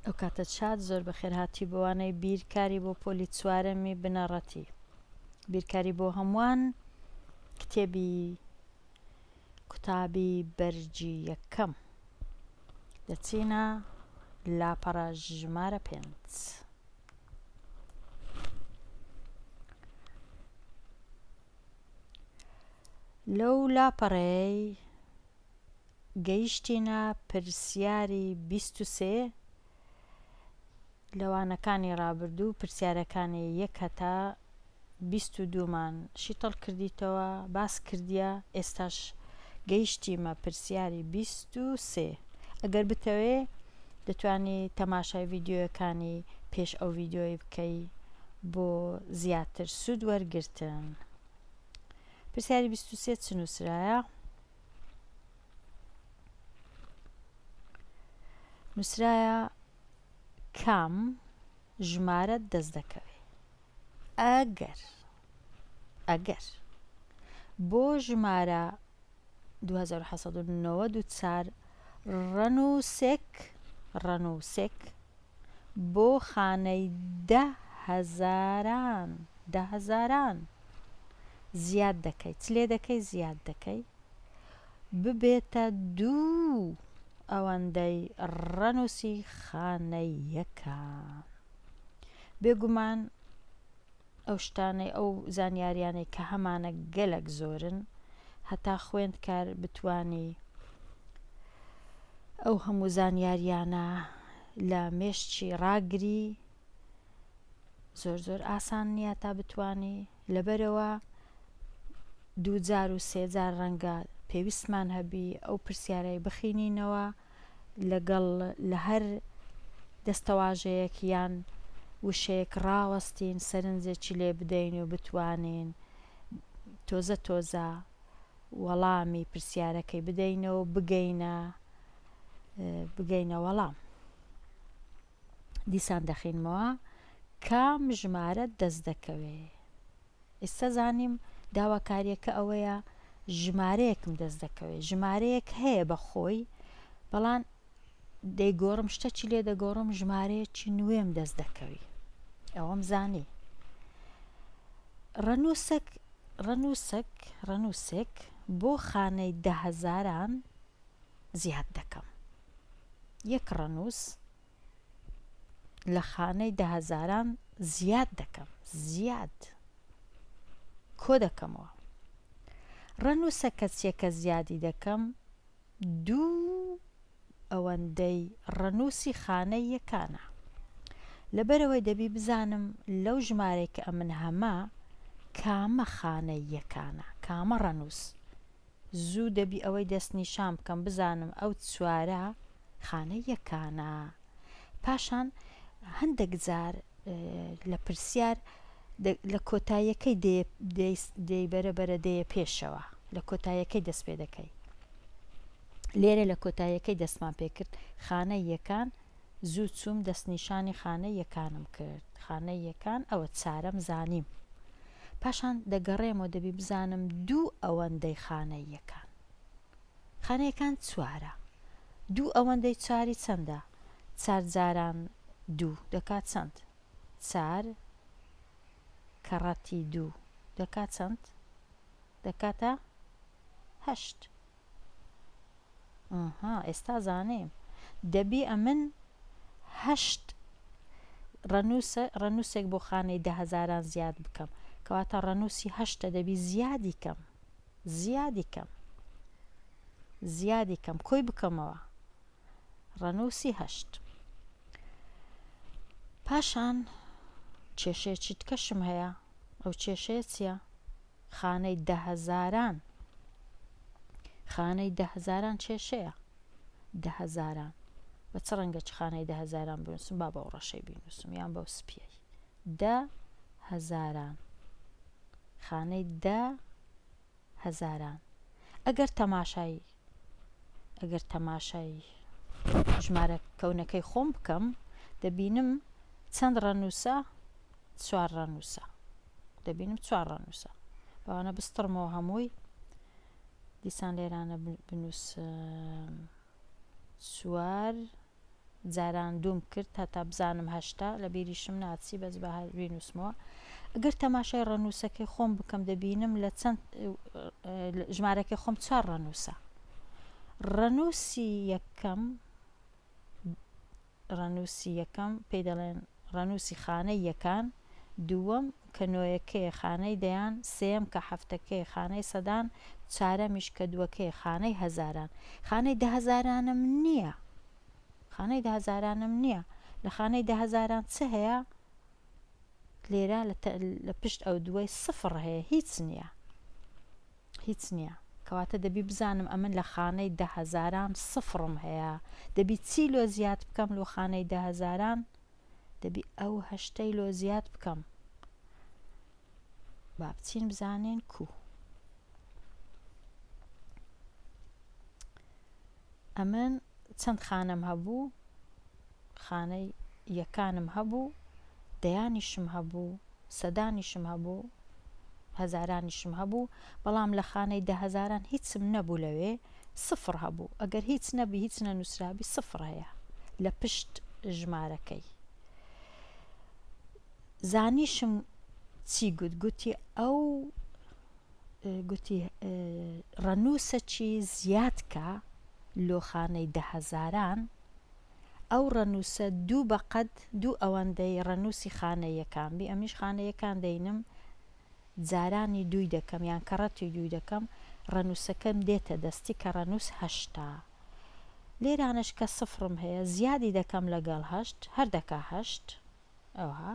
ئەو کاتە چات زۆر بەخێر هاتی بۆوانەی بیر کاری بۆ پۆلی چوارەمی بنەڕەتی بیرکاری بۆ هەمووان کتێبی قوتابی بەرجی یەکەم دەچینە لاپەڕە ژمارە پێنج. لەو لاپەڕەی گەیشتینە پرسیاری بیست و سێ، لە وانەکانی ڕابردوو پرسیارەکانی یەک هەتا بیست و دوو مان شیتەڵ کردیتەوە باس کردیە ئێستاش گەیشتیمە پرسیاری بیست و سێ ئەگەر بتەوێ دەتوانی تەماشای ڤیدیۆیەکانی پێش ئەو ڤیدیۆی بکەی بۆ زیاتر سوود وەرگرتن پرسیاری بیست و سێ چ نووسرایە نوسرایە کام ژمارە دەست دەکەوێ ئەگەر ئەگەر بۆ ژمارە 1994 ڕەنووسێک ڕەنووسێک بۆ خانەی دە هەزاران دە هەزاران زیاد دەکەی چ لێ دەکەی زیاد دەکەی ببێتە دوو ئەوەندەی ڕەنووسی خانە یەکان بێگومان ئەو شتانەی ئەو زانیاریانەی کە هەمانە گەلک زۆرن هەتا خوێندکار بتانی ئەو هەموو زانیاریانە لە مێشتی ڕاگری زۆر زۆر ئاسان نییە تا بتانی لەبەرەوە دووجار و سێجار ڕەنگە پێویستمان هەبی ئەو پرسیارەی بخینینەوە لەگەڵ لە هەر دەستەواژەیەک یان وشەیەک ڕاوەستین سەرنجێکی لێ بدەین و بتوانین تۆزە تۆزە وەڵامی پرسیارەکەی بدەینەوە بگەینە بگەینە وەڵام. دیسان دەخینمەوە کام ژمارە دەست دەکەوێ ئیستا زانیم داواکاریەکە ئەوەیە ژمارەیەکم دەست دەکەوێ ژمارەیەک هەیە بە خۆی بەڵام دەیگۆڕم شتەچی لێ دەگۆڕم ژمارەیەکی نوێم دەست دەکەوی ئەوەم زانی ڕەنووسک ڕەنووسک ڕەنووسێک بۆ خانەی دەهزاران زیاد دەکەم یەک ڕەنووس لە خانەی دەهەزاران زیاد دەکەم زیاد کۆ دەکەمەوە ڕەنووسە کەسیەکە زیادی دەکەم دوو ئەوەندەی ڕەنووسی خانە یەکانە لەبەرەوەی دەبی بزانم لەو ژمارەی کە ئەمن هەمە کامە خانە یەکانە کامە ڕەنووس زوو دەبی ئەوەی دەست نیشان بکەم بزانم ئەو چوارە خانە یەکانە پاشان هەندەک جار لە پرسیار لە کۆتایەکەی دەی بەرە بەرە دەیە پێشەوە لە کۆتایەکەی دەست پێ دەکەی لێرە لە کۆتایەکەی دەستمان پێکرد خانە یەکان زوو چووم دەستنیشانی خانە یەکانم کرد خانە یەکان ئەوە چارەم زانیم پاشان دەگەڕێمەوە دەبی بزانم دوو ئەوەندەی خانە یەکان خانە یەکان چوارە دوو ئەوەندەی چاری چەندە چار جاران دوو دەکات چەند چار کەڕەتی دوو دەکات چەند دەکاتە هەشت. ئاها ئێستا زانیم دەبی ئەمن هەشت ڕەنووسە ڕەنووسێک بۆ خانەی دە هەزاران زیاد بکەم کەواتە ڕەنووسی هەشتە دەبی زیادی کەم زیادی کەم زیادی کەم کۆی بکەمەوە ڕەنووسی هەشت پاشان کێشەیەکی تکەشم هەیە ئەو کێشەیە چییە؟ خانەی دە هەزاران خانەی دە هەزاران کێشەیە دە هەزاران بە چ ڕەنگە چ خانەی دە هەزاران بنووسم با بەو ڕەشەی بینووسم یان بەو سپیەی دە هەزاران خانەی دە هەزاران ئەگەر تەماشایی ئەگەر تەماشایی ژمارە کەونەکەی خۆم بکەم دەبینم چەند ڕەنووسە چوار ڕەنووسە دەبینم چوار ڕەنووسە بەوانە بستڕمەوە هەمووی دیسان لێرانە بنووس سوار جاران دووم کرد هەتا بزانم هەشتا لە بیریشم ناچی بەس بە بینوسمەوە ئەگەر تەماشای ڕەنووسەکەی خۆم بکەم دەبینم لە چەند ژمارەکە خۆم چوار ڕەنووسە ڕەنووسی یەکەم ڕەنووسی یەکەم پێی دەڵێن ڕەنووسی خانەی یەکان، دووەم کە نۆیەکەیە خانەی دەیان، سێیەم کە حەفتەکەیە خانەی سەدان، چارەمیش کە دووەکەیە خانەی هەزاران. خانەی دەهەزارانم نییە. خانەی دەهەزارانم نییە. لە خانەی دەهەزاران چ هەیە؟ لێرە لە پشت ئەو دووەی سفڕ هەیە، هیچ نییە. هیچ نیە. کەواتە دەبی بزانم ئەمن لە خانەی دە هەزاران سفڕم هەیە دەبی چی لۆ زیاد بکەم لۆ خانەی دە هەزاران دەبی ئەو هەشتەی لۆ زیاد بکەم با بچین بزانین کوو. ئەمن چەند خانەم هەبوو، خانەی یەکانم هەبوو، دەیانیشم هەبوو، سەدانیشم هەبوو، هەزارانیشم هەبوو، بەڵام لە خانەی دەهەزاران هیچم نەبوو لەوێ سفر هەبوو، ئەگەر هیچ نەبی هیچ نەنووسرابی سفر هەیە لە پشت ژمارەکەی. زانیشم چی گوت، گوتی ئەو گوتی، ڕەنووسەکی زیاد کە لۆ خانەی دە هەزاران، ئەو ڕەنووسە دوو بە قەد دوو ئەوەندەی ڕەنووسی خانە یەکان بی، ئەمنیش خانە یەکان دەینم، جارانی دووی دەکەم، یان کەڕەتی دووی دەکەم، ڕەنووسەکەم دێتە دەستی کە ڕەنووس هەشتە. لێرانەش کە سفرم هەیە، زیادی دەکەم لەگەڵ هەشت، هەر دەکا هەشت. ئەوها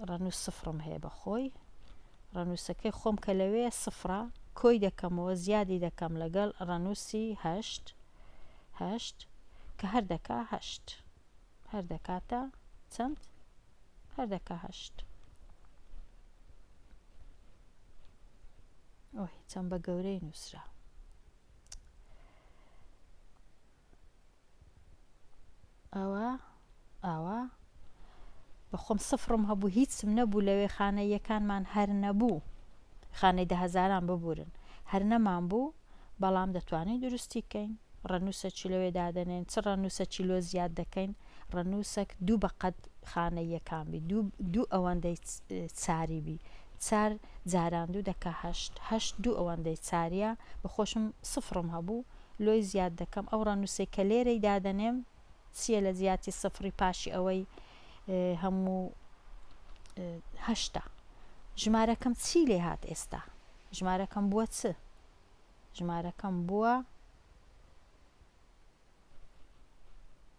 ڕەنووس سفڕم هەیە بە خۆی ڕەنووسەکەی خۆم کە لەوێ سفڕە کۆی دەکەمەوە زیادی دەکەم لەگەڵ ڕەنووسی هەشت هەشت کە هەر دەکا هەشت هەر دەکاتە چەند هەر دەکا هەشت ئۆهی چەند بە گەورەی نووسرا ئەوە ئاوا بەخۆم سفرم هەبوو هیچم نەبوو لەوێ خانە یەکانمان هەر نەبوو خانەی دە هەزاران ببورن هەر نەمان بوو بەڵام دەتوانین دروستی کەین ڕەنووسە چی لەوێ دادەنێن چ ڕەنووسە چی لۆ زیاد دەکەین ڕەنووسەک دوو بەقەت خانە یەکان بی دوو ئەوەندەی چاری بی چار جاران دوو دەکە هەشت هەشت دوو ئەوەندەی چاریە بە خۆشم سفرم هەبوو لۆی زیاد دەکەم ئەو ڕەنوسەی کە لێرەی دادەنێم چیە لە جیاتی سفڕی پاشی ئەوەی هەموو هەشتا ژمارەکەم چی لێ هات ئێستا ژمارەکەم بووە چ ژمارەکەم بووە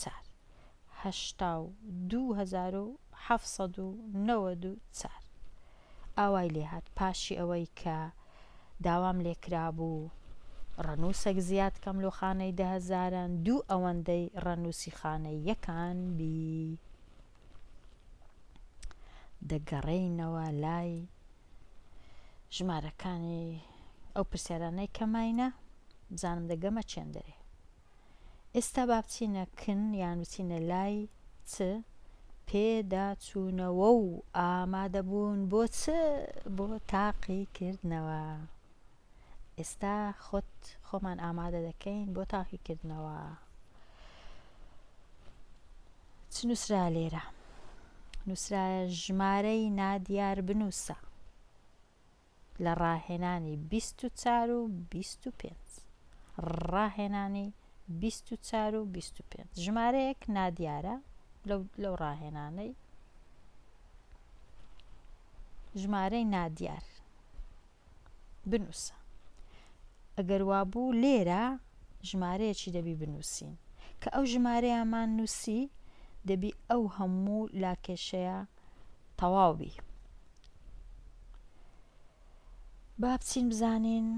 چار هەشتا و دوو هەزار و حەفت سەد و نەوەد و چار ئاوای لێهات پاشی ئەوەی کە داوام لێکرابوو ڕەنووسەک زیاد کەم لۆ خانەی دەهەزاران دوو ئەوەندەی ڕەنووسی خانەی یەکان بی دەگەڕێینەوە لای ژمارەکانی ئەو پرسیارانەی کە ماینە بزانم دەگەمە چێندەرێ ئێستا با بچینە کن یان بچینە لای چ پێداچوونەوە و ئامادەبوون بۆ چ بۆ تاقیکردنەوە. ئێستا خۆت خۆمان ئامادە دەکەین بۆ تاقیکردنەوە. چ نووسرا لێرە؟ نووسرایە ژمارەی نادیار بنووسە. لە ڕاهێنانی بیست و چار و بیست و پێنج. ڕاهێنانی بیست و چار و بیست و پێنج. ژمارەیەک نادیارە لەو ڕاهێنانەی ژمارەی نادیار بنووسە. ئەگەر وابوو لێرە ژمارەیەکی دەبی بنووسین کە ئەو ژمارەیەمان نووسی دەبی ئەو هەموو لاکێشەیە تەواو بی با بچین بزانین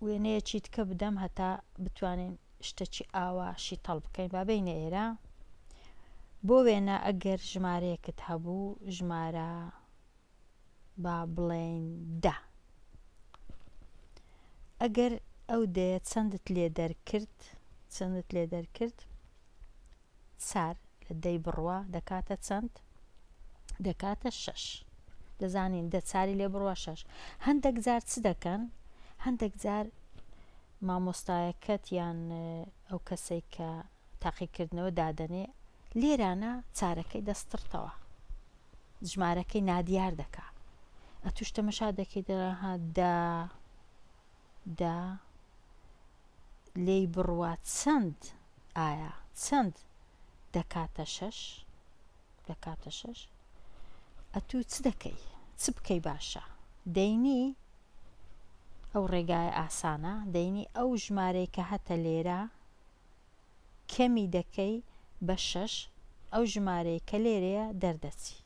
وێنەیەکی تکە بدەم هەتا بتوانین شتەکی ئاوا شیتەڵ بکەین با بینە ئێرە بۆ وێنە ئەگەر ژمارەیەکت هەبوو ژمارە با بڵێین دا ئەگەر ئەو دەیە چەندت لێ دەرکرد چەندت لێ دەرکرد چار لە دەی بڕوا دەکاتە چەند؟ دەکاتە شەش. دەزانین دە چاری لێ بڕوا شەش. هەندەک جار چ دەکەن؟ هەندەک جار مامۆستایەکەت یان ئەو کەسەی کە تاقیکردنەوە دادەنێ لێرانە چارەکەی دەستڕتەوە ژمارەکەی نادیار دەکا ئەتوش تەمەشا دەکەی دەڵێ ها دە دا لێی بڕوا چەند ئایا چەند دەکاتە شەش دەکاتە شەش ئەتوو چ دەکەی چ بکەی باشە دەینی ئەو ڕێگای ئاسانە دەینی ئەو ژمارەی کە هەتە لێرە کەمی دەکەی بە شەش ئەو ژمارەی کە لێرەیە دەردەچی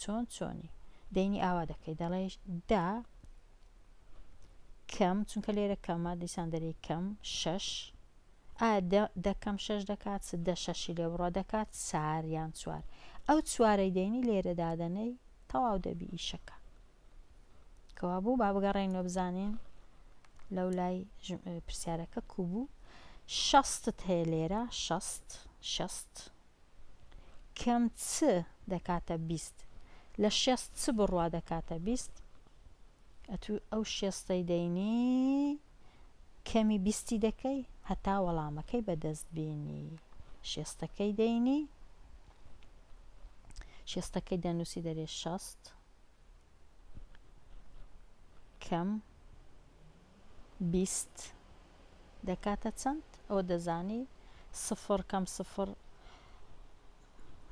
چۆن چۆنی دەینی ئاوا دەکەی دەڵێ دا کەم چونکە لێرە کەمە دیسان دەری کەم شەش ئا دەکەم شەش دەکات چ دە شەشی لێ بڕە دەکات سار یان چوار ئەو چوارەی دەینی لێرە دادەنەی تەواو دەبی ئیشەکە کەوابوو با بگەڕێینەوە بزانین لەو لای پرسیارەکە کو بوو شەستت هەیە لێرە شەست شەست کەم چ دەکاتە بیست لە شێست چ بڕوا دەکاتە بیست ئەتو ئەو شێستەی دەینی کەمی بیستی دەکەی هەتا وەڵامەکەی بەدەست بینی شێستەکەی دەینی شێستەکەی دەنووسی دەرێ شەست کەم بیست دەکاتە چەند ئەوە دەزانی سفر کەم سفر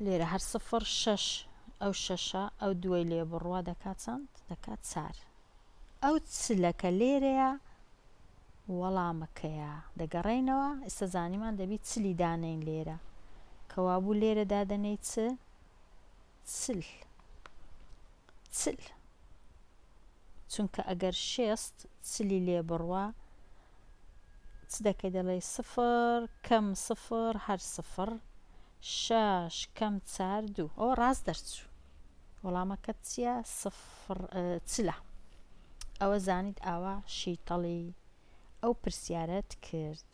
لێرە هەر سفر شەش ئەو شەشە ئەو دوای لێ بڕوا دەکات چەند دەکات چار ئەو چلەکە لێرەیە وەڵامەکەیە دەگەڕینەوە ئێستا زانیمان دەبی چلی دانین لێرە کەوابوو لێرە دادەنەی چ چل چل چونکە ئەگەر شێست چلی لێ بڕوا چ دەکەی دەڵێی سفر کەم سفر هەر سفر شەش کەم چار دوو ئەوە ڕاست دەرچوو وەڵامەکەت چییە سفر چلە ئەوە زانیت ئاوا شیتەڵی ئەو پرسیارەت کرد.